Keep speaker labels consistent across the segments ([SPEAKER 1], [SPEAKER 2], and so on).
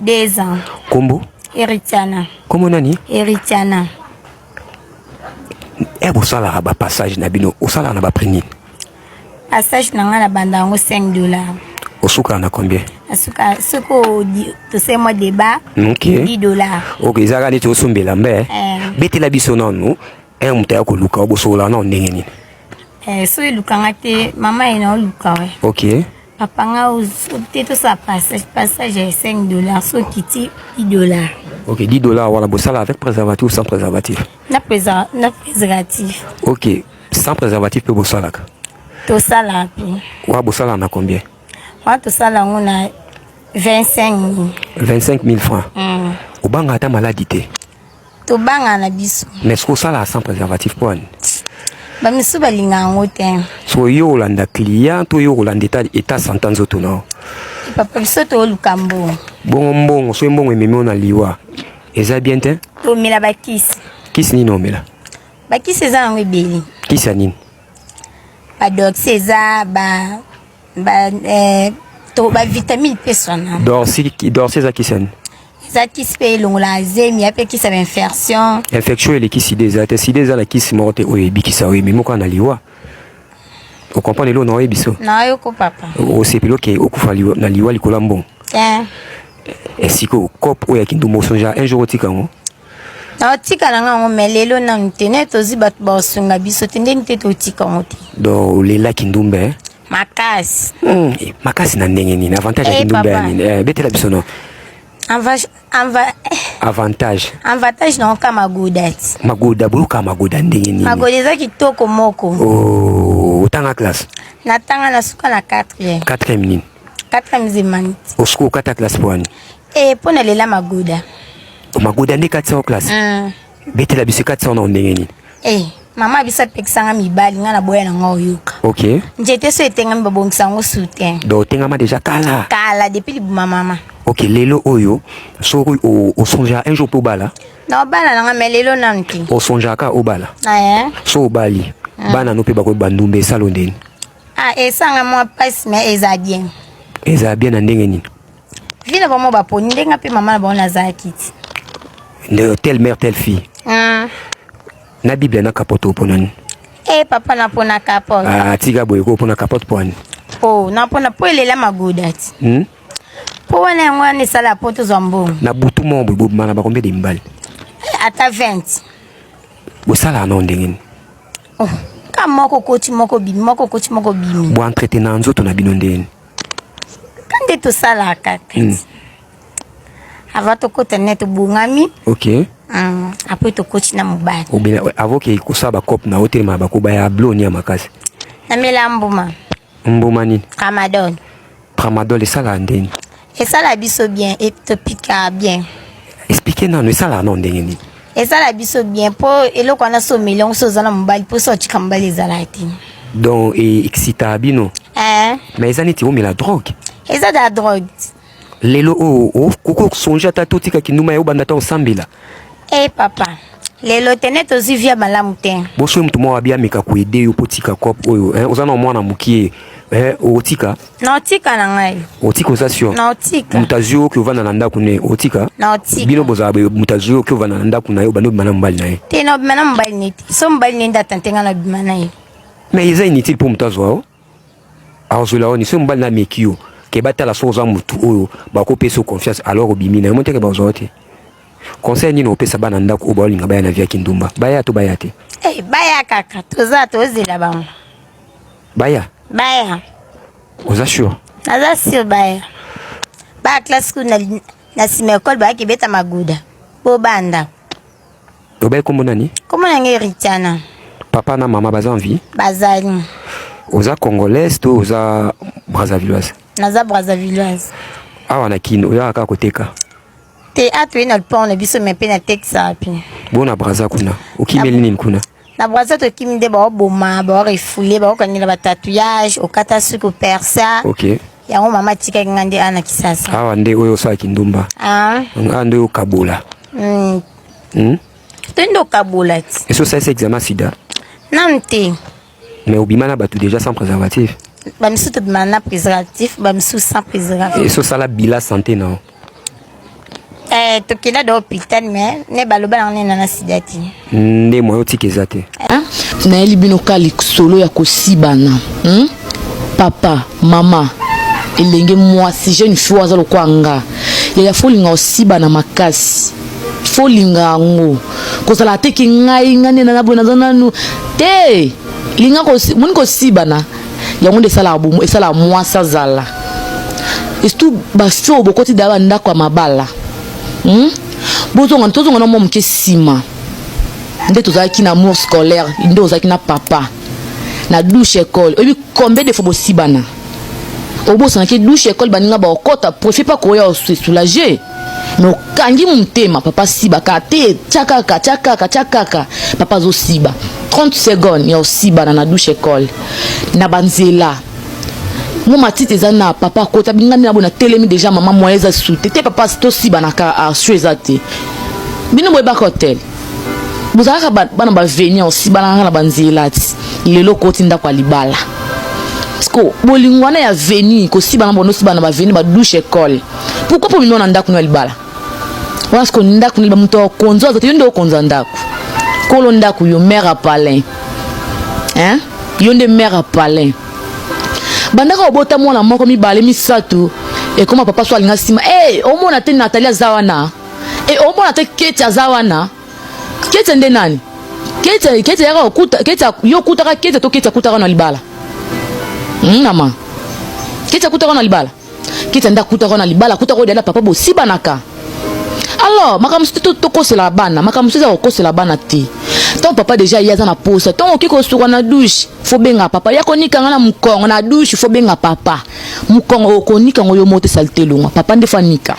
[SPEAKER 1] Deux ans.
[SPEAKER 2] Kombo?
[SPEAKER 1] Eritiana.
[SPEAKER 2] Kombo nani?
[SPEAKER 1] Eritiana. Eh, bosalaka ba passage na bino, osalaka na ba prix nini? Passage
[SPEAKER 2] na nga na banda yango 5 dollars. Osuka na
[SPEAKER 1] combien? Asuka soko
[SPEAKER 2] tosali mwa débat. Okay. 10 dollars. Okay, ezalaka neti
[SPEAKER 1] osombela mbe. Eh. Betela biso nanu, eh moto ya koluka obosola na ndenge nini? Eh, soki
[SPEAKER 2] elukanga te, mama ye na oluka we. Okay. Papa
[SPEAKER 1] nga
[SPEAKER 2] te tosala passage passage ya 5 dollars so okiti 10 dollars ok 10 dollars
[SPEAKER 1] wana bosala avec préservatif ou sans préservatif
[SPEAKER 2] na préservatif ok
[SPEAKER 1] sans préservatif mpe bosalaka tosala
[SPEAKER 2] mpe wa bosalaka na
[SPEAKER 1] combien wa tosala
[SPEAKER 2] yango na 25 000 25 000
[SPEAKER 1] francs mm. obanga ata maladi te tobanga
[SPEAKER 2] na biso mais ce kosala sans
[SPEAKER 1] préservatif mpo ani bamisusu
[SPEAKER 2] balinga yango te so yo olanda
[SPEAKER 1] client to yo olanda eta eta santa nzoto nao papa biso
[SPEAKER 2] tooluka mbongo bongo mbongo soki
[SPEAKER 1] mbongo ememi o na liwa eza bien te tomela bakisi
[SPEAKER 2] kisi nini omela
[SPEAKER 1] bakisi eza
[SPEAKER 2] yango ebele kisi ya nini badoxi eza ba ba eh, to ba vitamine pe sona dorsi dorsi za
[SPEAKER 1] kisani eza kisi mpe
[SPEAKER 2] elongola zemi ya mpe kisi ya bainfection infection eleki sida
[SPEAKER 1] eza te sida eza na kisi moko te oyo ebikisa oyo ememi kaka na liwa okomprendre eloo na oyebi biso nayoko papa
[SPEAKER 2] osepeli oke
[SPEAKER 1] okufa na liwa likolo ya mbongo esiko eh, eh, kope oyo ya kindumba osonja un jour otika yango naotika
[SPEAKER 2] na nga yango me lelo nanu te naye tozi bato baosunga biso te ndeni te totika yango te donc olela
[SPEAKER 1] kindumba eh? makasi mm,
[SPEAKER 2] makasi
[SPEAKER 1] na ndenge nini avantage ya eh, kindumba ya nini eh, betela biso no avantage avantage na oka magoda
[SPEAKER 2] ti magoda boyoka
[SPEAKER 1] magoda ndenge nini magoda eza kitoko
[SPEAKER 2] moko oh,
[SPEAKER 1] otanga classe natanga na suka
[SPEAKER 2] na 4e 4e nini
[SPEAKER 1] 4e
[SPEAKER 2] zemaniti osuka okata classe
[SPEAKER 1] po wani Eh, pona lela
[SPEAKER 2] magoda. Magoda
[SPEAKER 1] nde 400 classe. Mm. Betela biso 400 na ndenge nini? Eh, mama biso
[SPEAKER 2] apekisanga mibali nga na boya na nga oyoka. OK. Njete so
[SPEAKER 1] etengami
[SPEAKER 2] babongisa yango soutien. Donc otengama déjà
[SPEAKER 1] kala. Kala depuis libuma
[SPEAKER 2] mama. OK, lelo oyo
[SPEAKER 1] soki osonja un jour po bala. Na obala na nga
[SPEAKER 2] mais lelo nanu te. Osonjaka obala.
[SPEAKER 1] Ah eh. So obali. Mm. Bana no pe bakoyeba ndumbe esalo ndeni. Ah, esanga
[SPEAKER 2] mwa pasi mais eza bien. Eza bien na
[SPEAKER 1] ndenge nini? vie na bango
[SPEAKER 2] baponi ndenge nga mpe mama na bango nazala kiti nde
[SPEAKER 1] telle mère telle fille ah. na biblia na kapote opona nini e eh, papa
[SPEAKER 2] napona kapote ah, tika boye ko opona
[SPEAKER 1] kapote mpo ani o oh, napona
[SPEAKER 2] mpo elela magoda ti hmm? mpo wana yango wana esala mpo tozwa mbongo na butu moko boye
[SPEAKER 1] bobimana bakombe de mibali eh, ata 20 bosalaka nao ndenge nini oh,
[SPEAKER 2] ka moko koti moko bimi moko koti moko bimi boentretena
[SPEAKER 1] nzoto na bino ndenge nini
[SPEAKER 2] nde tosalaka kati hmm. ava tokota nde tobongami ok
[SPEAKER 1] hmm, apres
[SPEAKER 2] tokoti na mobali obina avoke
[SPEAKER 1] kosala bacope na otelema bakoba ya bloni ya makasi namela
[SPEAKER 2] mbuma mbuma nini
[SPEAKER 1] tramadol
[SPEAKER 2] tramadol
[SPEAKER 1] esalaka ndeni esala biso
[SPEAKER 2] bien etopika bien explike nano
[SPEAKER 1] esalaka nao ndenge nini esala biso
[SPEAKER 2] bien mpo eloko wana so omeli yango so oza na mobali mpo so otika mobali ezalaka te donc
[SPEAKER 1] excita bino eh. mais eza neti omela drogue eza da drogue
[SPEAKER 2] lelo
[SPEAKER 1] oyo oh, oh, okosonge ata totika kinduma ya obanda ata osambela e eh, papa
[SPEAKER 2] lelo te neti ozwi via malamu te bosoki motu moko abi ameka
[SPEAKER 1] koede yo mpo tika cope oyo eh, oza na mwana mokie otika naotika na
[SPEAKER 2] ngai otika oza sio
[SPEAKER 1] naotika moto azwi
[SPEAKER 2] oki ovanda na
[SPEAKER 1] ndako ne otika naotika bino bozala
[SPEAKER 2] moto azwi
[SPEAKER 1] oki ovanda na ndako na ye obandi obima na mobali na ye te na obima na mobali na
[SPEAKER 2] ye te so mobali na ye nde atante ngai na obima na ye mais eza inutile
[SPEAKER 1] mpo moto azwa o azwela oni so mobali na ameki yo ke batala so oza motu oyo bakopesa yo confiance alors obimi na ye moteke bazwa yo te conseil nini opesa bana ndako oyo baolinga baya na via kindumba baya to baya te eh, baya kaka
[SPEAKER 2] toza tozela bango Baya.
[SPEAKER 1] Baya.
[SPEAKER 2] Oza
[SPEAKER 1] sure? Naza sure baya.
[SPEAKER 2] Ba classe kuna na sima ekole bayaki beta maguda. Bobanda.
[SPEAKER 1] Obai kombo nani? Kombo na ngai Ritana.
[SPEAKER 2] Papa na mama
[SPEAKER 1] baza en vie? Bazali.
[SPEAKER 2] Oza
[SPEAKER 1] congolaise to oza brazzavilloise? Naza
[SPEAKER 2] brazzavilloise.
[SPEAKER 1] Awa na Kin oyaka
[SPEAKER 2] kaka koteka?
[SPEAKER 1] Te
[SPEAKER 2] atoye na lupon na biso me mpe na tekisa mpe. Bona braza kuna
[SPEAKER 1] okimeli nini kuna? na braza tokimi
[SPEAKER 2] nde baoboma baorefule baokangela batatouillage okata suki opersa okay. yango
[SPEAKER 1] mama atikaki
[SPEAKER 2] nga nde ana kisasa awa nde oyo osala
[SPEAKER 1] kindumba ah. nga nde okabola mm. hmm?
[SPEAKER 2] to nde okabola ti esi osalisa examen
[SPEAKER 1] sida nanu te
[SPEAKER 2] mais
[SPEAKER 1] obima na bato déjà sans préservatif bamisusu tobima
[SPEAKER 2] na préservatif bamisusu sans préservatif esi osala bila santé
[SPEAKER 1] nao Eh, tokenda
[SPEAKER 2] do hôpital mais ne baloba na nena na sida te nde moyen otika
[SPEAKER 1] eza te hein? nayeli
[SPEAKER 3] bino ka lisolo ya kosibana hmm? papa mama elenge mwasi jeune fille aza lokola nga yaya fo olinga osibana makasi fo olinga yango kozala ateki ngai ngai nde nanaboye naza nanu te linga moni kosibana yango nde esalaka bomo esalaka mwasi azala esutu basi oyo bokoti daya bandako ya mabala hmm? bozonga tozonga na mwa moke nsima nde tozalaki na mour scolaire nde ozalaki na papa na douche école oyebi combien de fois bosibana obosanaki douche école baninga baokota profi mpa koya osesoulage mais okangi motema papa siba kaka te tya kaka tya kaka tya kaka papa azosiba 30 seconde ya osibana na douche ecole na banzela mo matiti eza na papa akota bingani na boye natelemi deja mama moye eza sute te papa tosibana kaka arsio eza te bino boyebaka hotel bozalaka bana baveni osibana kaka na banzela ti lelo okoti ndako ya libala siko bolingo wana ya veni kosibana bonosibana baveni badouche ecole Pourquoi pour mino na ndaku na libala? Wana siko ndaku na libala moto akonzo azote yo nde okonza ndaku. Kolo ndaku yo mère à palin. Hein? Yo nde mère à palin. Bandaka obota mwana moko mibale misato ekoma papa so alinga nsima e eh, omona te natali aza wana e eh, omona te keti aza wana keti nde nani keti keti yaka okuta keti yo okutaka keti to keti akutaka na libala hmm, mama keti akutaka na libala kita nda kuta ko na libala kuta ko dela papa bosibanaka alors makambo mosusu tokosela bana makambo mosusu eza kokosela bana te ntango papa deja ye aza na posa ntango okoki kosuka na dushe fo benga papa ya konika nga na mokongo na dushe fo benga papa mokongo okonika ngo yo moko te salite elongwa papa nde fo anika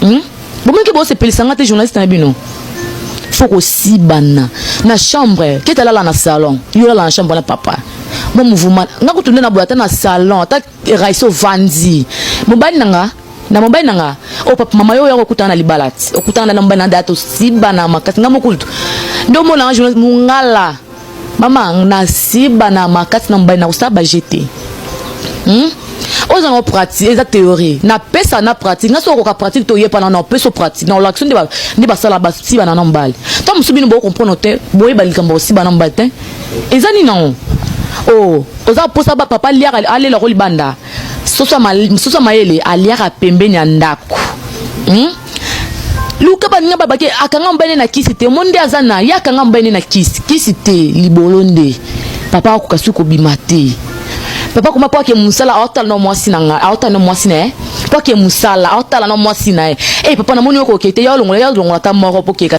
[SPEAKER 3] hmm? bomeke bosepelisa nga te journaliste na bino fo kosibana na chambre kete alala na salon yo olala na chambre na papa mo mouvuma nga kutu nde naboya ata na salon ata raise ovandi mobali na nga na mobali na nga o oh, papa mama yo oya kokutana na libala ti okutana na mobali na data osibana makasi nga mokutu nde omonanga journaliste mongala mama na siba na makasi na mobali na kosala bajete hmm? oza yango pratique eza théorie napesa na pratique nga soki okoka pratique to oyepana na opeso pratique na olakisi nde basala basibana na mobali ntango mosusu bino bokokomprendre te boyeba likambo kosibana na mobali te eza nini yango o oh, oza mposa bapapa aliaka alela ko libanda soso ya mayele aliaka pembeni ya ndako hmm? luka baninga babake akanga mobali na kisi te omoni nde aza na ye akanga mobali na kisi kisi te libolo nde papa akoka soki kobima te papa koma mpo ake mosala aotala na mwasi na ngai aotala na mwasi na ye mpo ake mosala aotala na mwasi na ye e papa namoni okoke te ya olongola ya olongola ata moko mpo keka